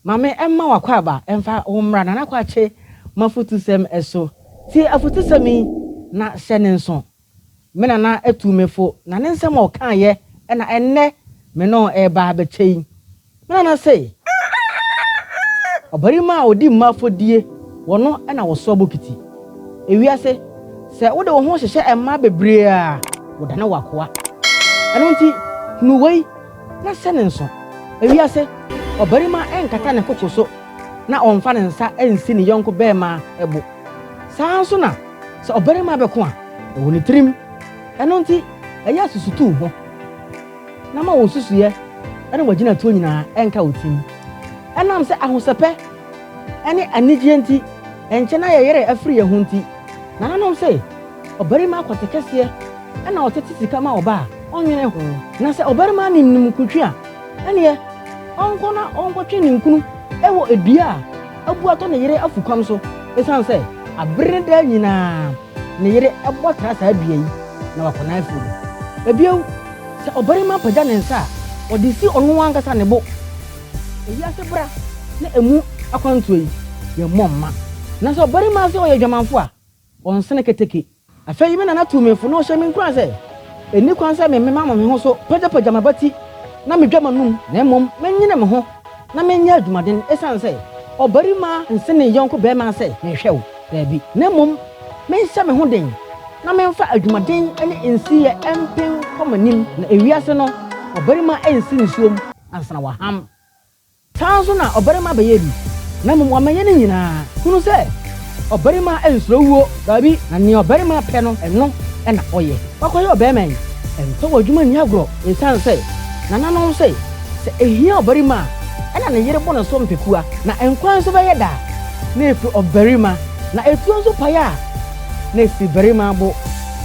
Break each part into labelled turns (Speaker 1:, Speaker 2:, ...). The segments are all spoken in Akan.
Speaker 1: Maame mma w'akwaaba mfa wo mmra Nana Kwakye m'afutusɛm so. Tie afutusɛm yi na hyɛ ne nso. Me nana tuu me fo, na ne nsɛm a ɔkaeɛ na ɛnnɛ me ne ɔno reba abɛkyɛ yi. Me nana se, Ɔbarima a ɔdi mma afɔdie wɔ no na ɔsoa bokiti. Ewiase, sɛ wode wo ho hyehyɛ mmaa bebree a, wodane w'akoa. Ɛno nti, hunu wei na hyɛ no nso. Ewiase, ɔbarima nkata ne koko so na ɔmfa ne nsa nsi ne yɔnko barima bo. Saa ara nso na. Sɛ ɔbarima bɛko a, ɛwɔ ne tirim. Ɛno nti, ɛyɛ asusutuw ho, na ma wo nsusuiɛ ne w'agyinatuo nyinaa nka wo tirim. Ɛnam sɛ ahosɛpɛ ne anigyeɛ nti, ɛnkyɛ na yɛn werɛ afiri yɛn ho nti, nananom se, Ɔbarima akwate kɛseɛ na ɔtete sika ma ɔba a, ɔnnwene ho. Na sɛ ɔbarima nim ninkuntwe a, ɛnneɛ ɔnkɔ na ɔnkɔtwe ninkunu wɔ dua a abu atɔ ne yere afukɔm so esiane sɛ bere no daa nyinaa ne yere bɔ tra saa dua yi na wakɔ n'afuw mu. Bio, sɛ ɔbarima pagya ne nsa a, ɔde si ɔno ankasa ne bo. Eyi ase bra ne emu akwantuo yi, yɛmmɔ mma. Nanso ɔbarima se ɔyɛ adwamanfo a, Ɔnnsene keteke. Afei me nana tuu me fo na ɔhyɛɛ me nkuran sɛ, Enni kwan sɛ memema me ho so pagyapagya m'abati na midwa m'anom, na mmom menyene me ho na menyɛ adwumaden, esiane sɛ ɔbarima nsen ne yɔnko barima sɛ menhwɛ wo, daabi, na mmom menhyɛ me ho den na memfa adwumaden ne nsiyɛ mpen kɔ m'anim, na ewiase no ɔbarima nsi nsuom ansa na waham. Saa ara nso na ɔbarima bɛyɛ bi, na mmom wamɛyɛ ne nyinaa. Hunu sɛ, ɔbarima nsuro wuo, daabi, na nea ɔbarima pɛ no, ɛno na ɔyɛ. Wakɔyɛ ɔbarima yi, ɛmfa w'adwuma nni agorɔ, ɛsiane sɛ nananom se, sɛ ɛhia ɔbarima a, ɛna ne yere bɔ ne so mpekua, na nkwa nso bɛyɛ da, na ɛfiri ɔbarima, na ɛtuo nso pae a, na ɛfiri barima bo.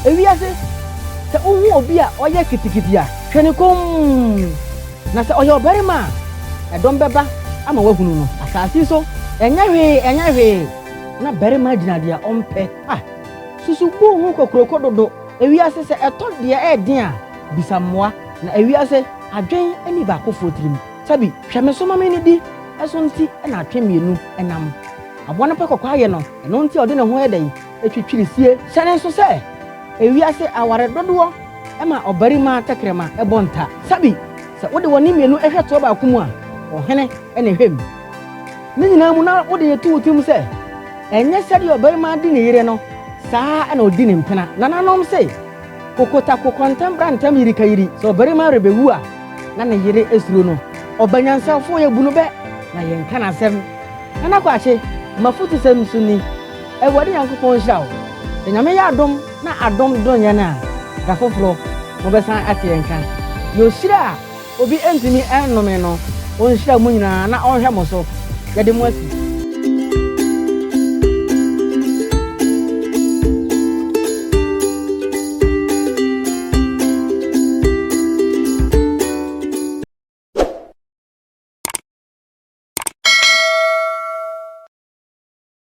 Speaker 1: Ewiase, sɛ wohu obi a ɔyɛ kitikiti a, hwɛ no komm. Na sɛ ɔyɛ ɔbarima a, ɛdɔm bɛba ama wɔahunu no. Asase yi so, ɛnyɛ hwee, ɛnyɛ hwee, na barima gyina deɛ ɔmpɛ. A. Susu boɔ ho kokuroko dodo. Ewiase, sɛ ɛtɔ deɛ ɛyɛ den a, bisa mmoa. Na ewiase, adwen nni baakofoɔ tirim. Sɛbi, hwɛ me so ma me nnidi, ɛso nti na atwe mmienu nam. Aboa no pɛ kɔkɔayɛ no, ɛno nti a ɔde ne ho yɛ dɛn? Ɛtwitwiri fie. Sɛne nso sɛ ewiase aware dodoɔ ma ɔbarima tɛkrɛma bɔ nta. Sabi, sɛ wode wɔne mmienu hwɛ toɔ baako mu a, ɔhene na ɛhwɛ mu. Ne nyinaa mu na wode reto wo tirim sɛ, ɛnyɛ sɛdeɛ ɔbarima di ne yere no, saa ara na ɔdi ne mpena. Nananom se, Kokotako kɔntɛn bra ntɛm yirikayiri. Sɛ ɔbarima rebɛwu a, na ne yere suro no. Ɔbanyansafoɔ, yɛbu no bɛ na yɛnka n'asɛm. Nana Kwakye, m'afutusɛm nso ni. Awurade Nyankopɔn nhyira wo. Sɛ Nyame yɛ adom na adom dom yɛn a, da foforɔ mo bɛsan ate yɛn nka. Deɛ ɔhyira a obi ntumi nnome no, ɔnhyira mo nyinaa na ɔnhwɛ mo so. Yɛde mo asi.